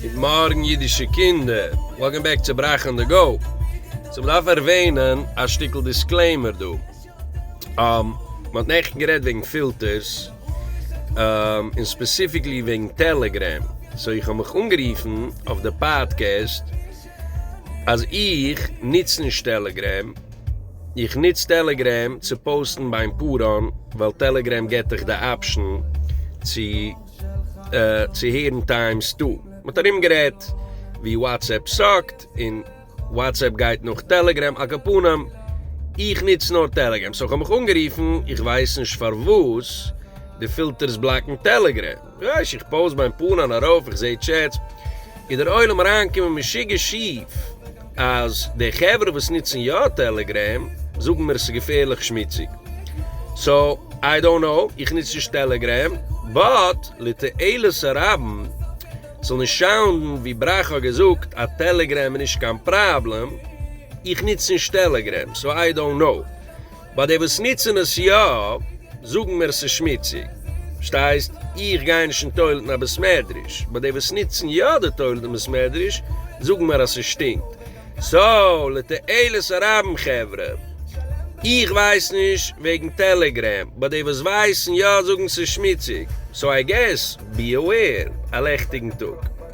גוט מארגן אידישע קינדער, וועלקאם בעק צו ברייך אן די גאו. סאו מ'דארף ערווענען א שטיקל דיסקלעימער דא. מ'האט נעכטן גערעדט וועגן פילטערס, און ספעסיפיקלי וועגן טעלעגרעם, סאו איך האב מיך אנגערופן אויף די פאדקעסט אז איך נוץ נישט טעלעגרעם, איך נוץ טעלעגרעם צו פאוסטן ביים פאראן, ווייל טעלעגרעם געט דיך די אפשן צו. צו הערן טיימס טו, מען האט ארום גערעדט ווי וואטסעפפ סאקט און וואטסעפפ גייט נאך טעלעגרעם, אקאפנים איך ניץ נאר טעלעגרעם סאו איך האב מיך אנגערופן איך ווייס נישט פארוואס די פילטערס בלאקן טעלעגרעם, רייש איך פאוז מיין פאון אן ארויף איך זעה טשעטס איז דער עולם אריינגעקומען משוגע שיף. אז די חברה וואס נוצן יא טעלעגרעם זאגן מיר ס'איז געפערליך שמוציג, סאו איי דאנט נאו, איך נוץ נישט טעלעגרעם, באט לתועלת הרבים, ס'זאל נישט שאונדן ווי בראך האט געזאגט אז טעלעגרעם איז נישט קיין פראבלעם, איך נוץ נישט טעלעגרעם, סאו איי דאנט נאו. ביי די וואס ניצען עס יא זאגן מיר עס איז שמיציג, פארשטייסט? איך גיי נישט אין טוילעט אין א בית מדרש, ביי די וואס ניצען יא די טוילעט אין בית מדרש זאגן מיר אז ס'שטינקט, סאו לתועלת הרבים חברה, איך ווייס נישט וועגן טעלעגרעם, ביי די וואס ווייסן יא זאגן ס'איז שמיציג, סאו איי געס בי אוועיר א לעכטיגן טאג.